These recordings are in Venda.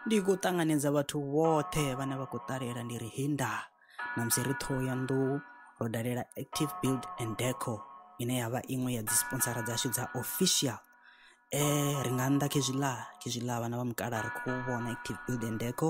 ndi khou ṱanganedza vhathu vhoṱhe vhane vha khou ṱalela ndi ri hinda na musi ri ṱhoho ya nḓou ro dalela active build and deco ine ya vha iṅwe ya dzi sponsora dzashu dza official um ri nga nnḓa khezwiḽa khezwiḽa vhana vha mukala ri khou vhona active build and deco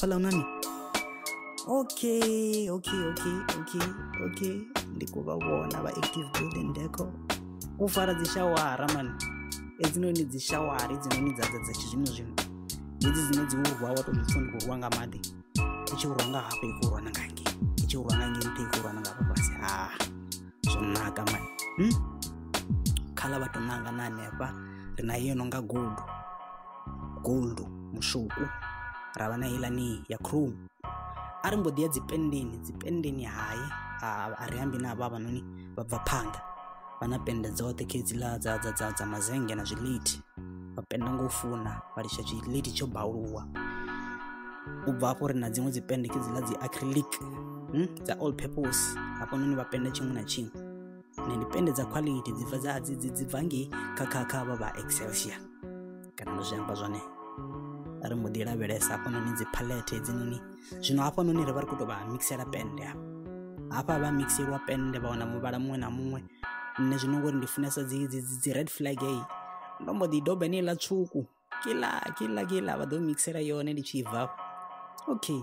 Pala unani? Okay, okay, okay, okay, okay. Ndi khou vha vhona vha active building deco. U fara dzi shawara man. Hedzinoni dzi shawara hedzinoni dza dza dza tshizwino zwino. Hedzi dzine dzi urwa wa tou zwi pfha ndi khou rwa nga maḓi. I tshi urwa nga hafha i khou urwa na nga ngei. I tshi urwa nga ngei nṱha i khou urwa na nga hafha fhasi. Ha. Zwo naka man. Hmm? Khala vha tou nanga na hanefha. Ri na iyo no nga gudu. gold mushoku ra vha na ilani ya chrome a ri mbo ḓi ya dzipendeni dzipendeni hai a ri ambi na vha vhanoni vha bva phanḓa vha na pende dzoṱhe khedziḽa dza dza dza dza mazenge na zwiliti vha penda ngo funa vha litsha tshiliti tsho bauluwa u bva afho ri na dziṅwe dzipende khedziḽa dzi acrylic hmm? dza all purpose hafhanoni vha penda tshiṅwe na tshiṅwe ne ndi pende dza quality dzi bva dza dzi dzi bva ngei kha kha kha vha vha excelsior kana no zwi amba zwone ri mbo ḓi lavhelesa hafhanoni dzi palette hedzinoni zwino hafhanoni ri vha ri khou tou vha mixela pende hafha hafha vha mixelwa pende vha wana muvhala muṅwe na muṅwe nṋe zwino ngori ndi funesa dzi dzi dzi red flag eyi ndo mbo ḓi doba ine iḽa tswuku kila kila kila vha ḓo mixela yone ndi tshi bva okay